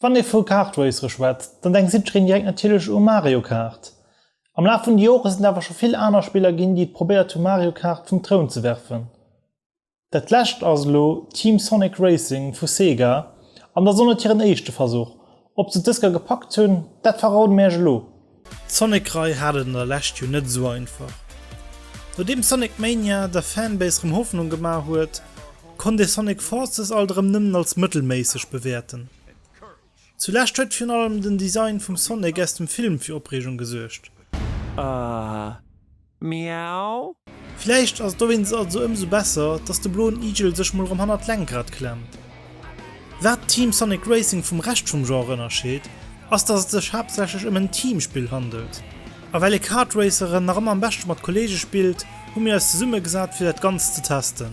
Wann ee vu Kart Racere schwätzt, dann denkt jiddereen direkt natierlech u Mario Kart. Am Laf vun de Jore sinn et awer scho vill aner Spiller ginn, déi et probéiert hu Mario Kart vum Troun ze werfen. Dat lescht ass elo Team Sonic Racing vu Sega, an dat ass och net hiren éischte Versuch. Ob se d'Dësker gepackt hunn, dat verroden mir iech elo. D'Sonic Rei hat et an der Lescht jo net esou einfach. Nodeem Sonic Mania der Fanbase rem Hoffnung gemaach huet, konnt ee Sonic Forces alt erem nëmmen als mëttelméisseg bewäerten. Zu Lescht huet virun allem den Design vum Sonic aus dem Film fir Opreegung gesuergt. Miau. Vläicht ass et dowéinst also ëmsou besser, dass de bloen Igel sech mol erëm hannert d'Lenkrad klemmt. Wat Team Sonic Racing vum Rescht vum Genre ënnerscheet, ass dass et sech haaptsächlech ëm en Teamspill handelt. A well ee Kartraceren nach ëmmer am beschte mat Kolleege spillt, hu mir eis zesummegesat fir dat Ganzt ze testen.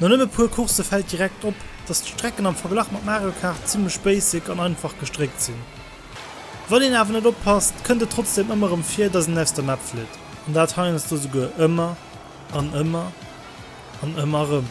No nëmme puer Coursse fält direkt op, dass d'Strecken am Verglach mat Mario Kart zimlech basic an einfach gestréckt sinn. Wann een awer net oppasst, kënnt et trotzdem ëmmer rëm vir, dass een aus der Map flitt. An dat heiansdo souguer ëmmer an ëmmer an ëmmer rëm.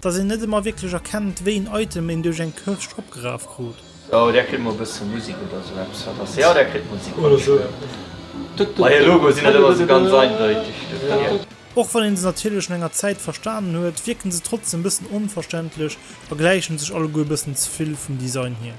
Dass een net emmer wierklech erkennt wéi en Item een duerch eng Kirscht opgeraf krut. Oh där kritt mol bëssen Musik oder esou eppes wat ass jo där kritt Musik wann ech huelen bei hir Logo sinn net ëmmer esou ganz eindeutig do fir mir. Och wann een se natierlech no enger Zäit verstanen huet, wierken se trotzdem bëssen onverständlech a gläichen sech alleguer bëssen zevill vum Design hier.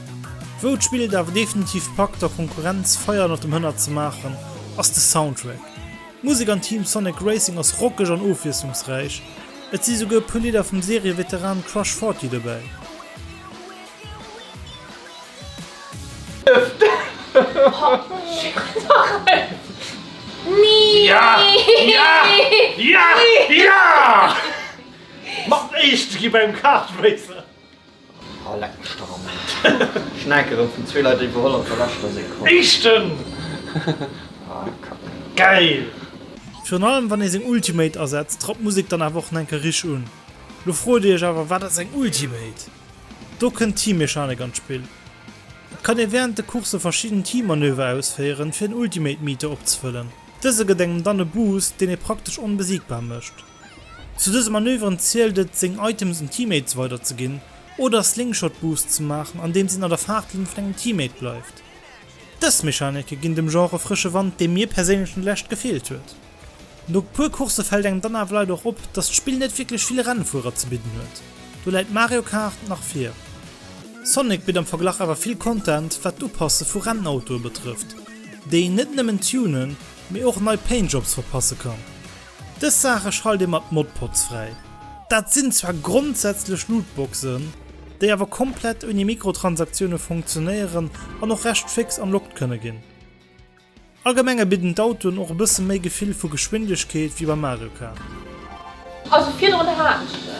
Wou d'Spill et awer definitiv packt der Konkurrenz Feier ënnert dem Hënner ze maachen, ass de Soundtrack. D'Musek an Team Sonic Racing ass rockeg an ofwiesslungsräich, et si souguer e puer Lidder vum Serieveteran Crush 40 dobäi. Oh leck mech dach am Aarsch. Schnäkeren vun zwee Leit iwwerholl op der leschter Sekonn. Eischten! Ah kack. Geil! Virun allem wann ee seng Ultimate asetzt trappt d'Musek dann awer och enker rich un. Lo froet dir iech awer wat ass eng Ultimate? Do kënnt d'Teammechanik an d'Spill. Et kann ee wärend de Coursse verschidden Teammanöver ausféieren fir en Ultimate Meter opzefëllen. Dëse gëtt engem dann e Boost deen ee praktesch onbesiegbar mécht. Zu dëse Manöveren zielt et, seng Items un Teammates weider ze ginn oder Slingshot Boosts ze maachen, andeems een an der Faartlinn vun engem Teammate bleift. Dës Mechanike ginn dem Genre e frësche Wand, dee mir perséinlech no der Lescht gefeelt huet. No puer Coursse fält engem dann awer leider och op, dass d'Spill net wierklech vill Rennfuerer ze bidden huet, do läit Mario Kart nach vir. Sonic bitt am Verglach awer vill Content wat d'Upasse vu Rennautoe betrëfft, déi een net nëmmen tunen, mee och nei Paintjobs verpasse kann. Dës Saache schalt ee mat Modpods fräi. Dat sinn zwar grondsätzlech Lootboxen, déi awer komplett ouni Mikrotransaktiounen funktionéieren an och recht féx unlocked kënne ginn. Allgemenge bidden d'Autoen och e bësse méi Gefill vu Geschwindegkeet wéi bei Mario Kart. Also virdrun haten ech se.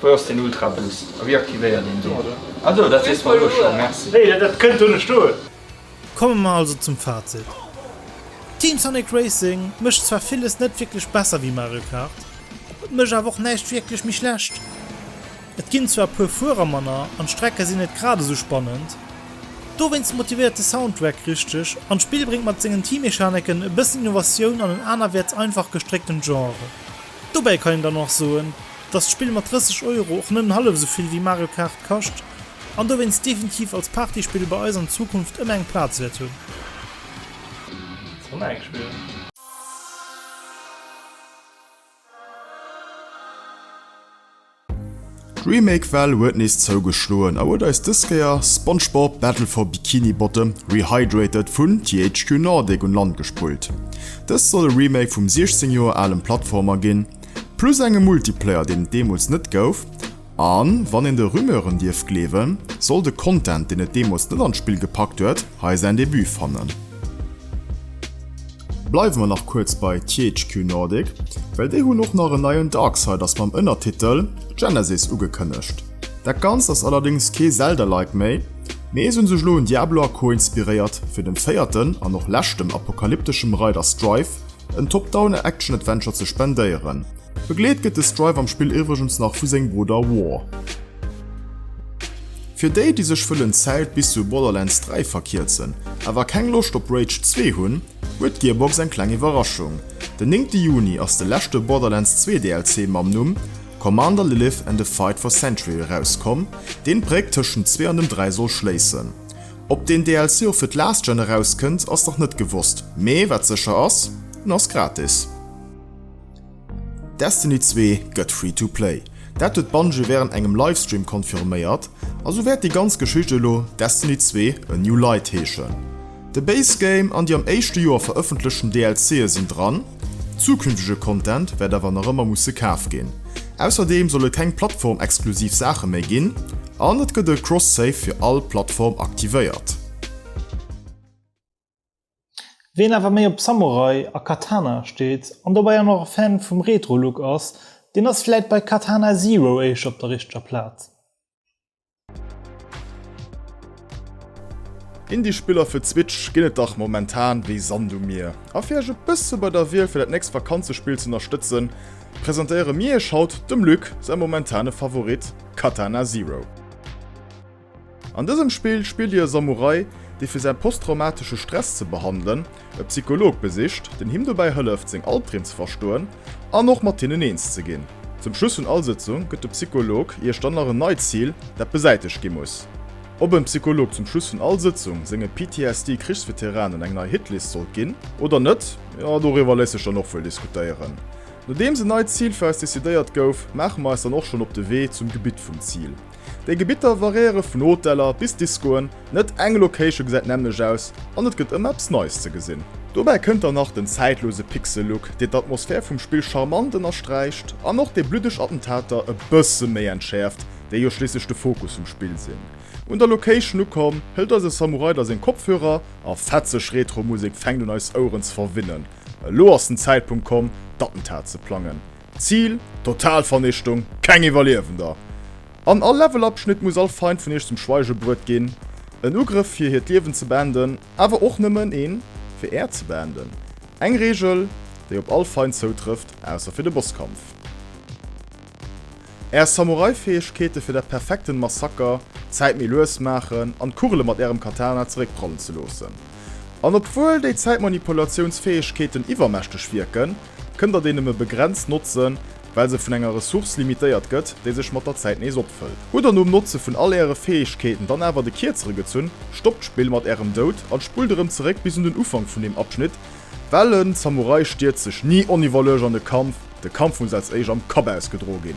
Wou ass den Ultra Boost a wéi aktivéiert een deen? Ah do, dat weess mer elo scho, merci. Nee, dat kënnt do net stoen. Komme mer also zum Fazit, Team Sonic Racing mécht zwar villes net wierklech besser wéi Mario Kart, et mécht awer och näischt wierklech méi schlecht. Et ginn zwar e puer Fuerer manner an d'Strecke sinn net grad esou spannend, dowéinst motivéiert de Soundtrack richteg an d'Spill bréngt mat sengen Teammechaniken e bëssen Innovatioun an en anerwäerts einfach gestréckten Genre. Dobäi kann een dann och soen, dass d'Spill mat 30 Euro och nëmmen hallef esou vill wéi Mario Kart kascht an dowéinst definitiv als Partyspill bei eis an Zukunft ëmmer eng Plaz wäert hunn. Sonic spillen. D'Remake-Well huet nees zougeschloen a huet eis dës Kéier SpongeBob, Battle for Bikini Bottom, Rehydrated vun THQ Nordic un Land gespullt. Dëst soll e Remake vum 16 Joer alem Plattformer ginn, plus engem Multiplayer deen et deemools net gouf, a wann een de Rumeuren dierf gleewen, soll de Content deen et deemools net an d'Spill gepackt huet hei säin Debut fannen. Bleiwe mer nach kuerz bei THQ Nordic, well déi hunn och nach en neien Darksiders mam Ënnertitel Genesis ugekënnegt. Dat Ganzt ass allerdéngs kee Zelda-like méi, mee se hunn sech elo un Diablo a Co inspiréiert fir dem véierten an och leschtem apokalypteschem Reider Strife en Top-Down Action-Adventure ze spendéieren. Begleet gëtt de Strife am Spill iwwregens nach vu sengem Brudder War. Fir déi, déi sech wëllen d'Zäit bis zu Borderlands 3 verkierzen, awer keng Loscht op Rage 2 hunn, huet d'Gearbox eng kleng Iwwerraschung, Den néngte Juni ass de leschte Borderlands 2 DLC mam Numm Commander Lilith and a Fight for Century erauskomm, deen d'Bréck tëschent dem 2 an dem 3 soll schléissen. Ob deen DLC och fir d'Last Gen erauskënnt, ass nach net gewosst, mee wat sécher ass, en ass gratis. Destiny 2 gëtt free to play. Dat huet Bungie wärend engem Livestream confirméiert, a sou wäert déi ganz Geschicht elo Destiny 2, A New Light heeschen. De Base Game an déi am éischte Joer verëffentlechten DLC'e sinn dran, zukünftege Content wäert awer nach ëmmer musse kaf ginn. Ausserdeem soll et keng Plattform-exklusiv Saache méi ginn, an et gëtt e Cross-Save fir all Plattform aktivéiert. Ween awer méi op Samurai a Katana steet an dobäi an och e Fan vum Retro-Look ass, deen ass vläit bei Katana Zero éischter op der richteger Plaz. Indie-Spiller fir d'Switch ginn et dach momentan wéi Sand um Mier a fir iech e bësse bei der Wiel fir dat nächst Vakanzespill z'ënnerstëtzen, presentéiere mir iech haut dem Luc säi momentane Favorit Katana Zero. An dësem Spill spillt dir e Samurai, dee fir säi posttraumatesche Stress ze behandelen, e Psycholog besicht, deen him dobäi hëlleft, seng Albdreem ze verstoen an och mat hinnen eens ze ginn. Zum Schluss vun all Sëtzung gëtt de Psycholog iech dann nach en neit Zil, dat besäitegt gi muss. Ob en Psycholog zum Schluss vun all Sëtzung senge PTSD-Krichsveteranen eng nei Hitlist sollt ginn oder net, jo, doriwwer léisst sech dann och wuel diskutéieren. Nodeems en neit Zil fir eis decidéiert gouf, maache mer eis dann och schonn op de Wee zum Gebitt vum Zil. Déi Gebitter variéiere vun Hoteller bis Discoen, net eng Location gesäit nämmlecht aus an et gëtt ëmmer eppes Neies ze gesinn. Dobäi kënnt dann nach den zäitlose Pixel-Look, deen d'Atmosphär vum Spill charmant ënnersträicht an och déi bluddeg Attentater e bësse méi entschäerft, déi jo schliisslech de Fokus vum Spill sinn. Un der Location ukomm, hëlt eise Samurai da seng Kopfhörer a fetzeg Retro-Musek fänkt un eis Oueren ze verwinnen. Elo ass den Zäitpunkt komm, d'Attentat ze plangen. Zil, Totalvernichtung, keng Iwwerliewender! An all Levelabschnitt muss all Feind vun iech zum Schweige bruet ginn. En Ugrëff fir hiert Liewen ze beenden, awer och nëmmen een fir äert ze beenden. Eng Regel, déi op all Feind zoutrëfft, ausser fir de Bosskampf. Är Samurai-Fäegkeete fir dat perfekten Massaker, Zäit méi lues maachen an d'Kugele mat ärem Katana zeréckprallen ze loossen. An obwuel déi Zäitmanipulatiounsfäegkeeten iwwermächteg wierken, kënnt der déi nëmme begrenzt notzen, well se vun enger Ressource limitéiert gëtt, déi sech mat der Zäit nees opfëllt. Hutt der nom Notze vun all äre Fäegkeeten dann awer de Kierzere gezunn, stoppt d'Spill mat ärem Doud an spullt erëm zeréck bis un den Ufank vun deem Abschnitt, well en Samurai stierzt sech ni oniwwerluecht an de Kampf, de Kampf muss als éischt am Kapp ausgedro ginn.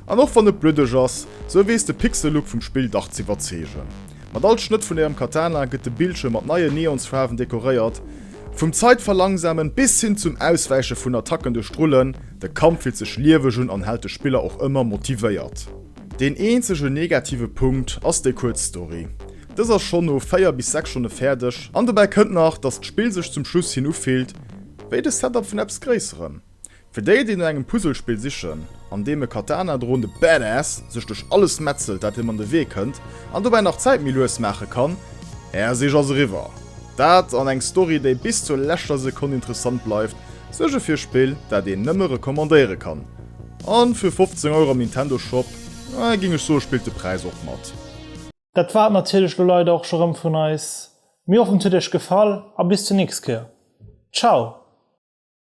An och wann et bluddeg ass, sou weess de Pixel-Look vum Spill dach z'iwwerzeegen. Mat all Schnëtt vun ärem Katana gëtt de Bildschierm mat neien Neonsfaarwen dekoréiert. Vum Zäitverlangsamen bis hin zum Auswäiche vun Attacken duerch d'Rullen, de Kampf fillt sech lieweg un an hält de Spiller och ëmmer motivéiert. Deen eenzege negative Punkt ass déi kuerz Story. Dës ass schonn no 4 bis 6 Stonne fäerdeg, an dobäi kënnt nach, dass d'Spill sech zum Schluss hin ufillt wéi de Setup vun eppes Gréisserem. Fir déi, déi no engem Puzzlespill sichen, an deem e Katana droende Badass sech duerch alles metzelt, dat him an de Wee kënnt, an dobäi nach d'Zäit méi lues maache kann, Är Sich ass eriwwer! Dat, an eng Story, déi bis zur leschter Sekonn interessant bleift, suerge fir e Spill, dat een nëmme recommandéiere kann. A fir 15 Euro am Nintendo Shop, ah, géing ech soe, spillt de Präis och mat. Dat war et natierlech lo leider och scho rëm vun eis. Mir hoffen, et huet Iech gefall a bis zur nächst Kéier. Ciao!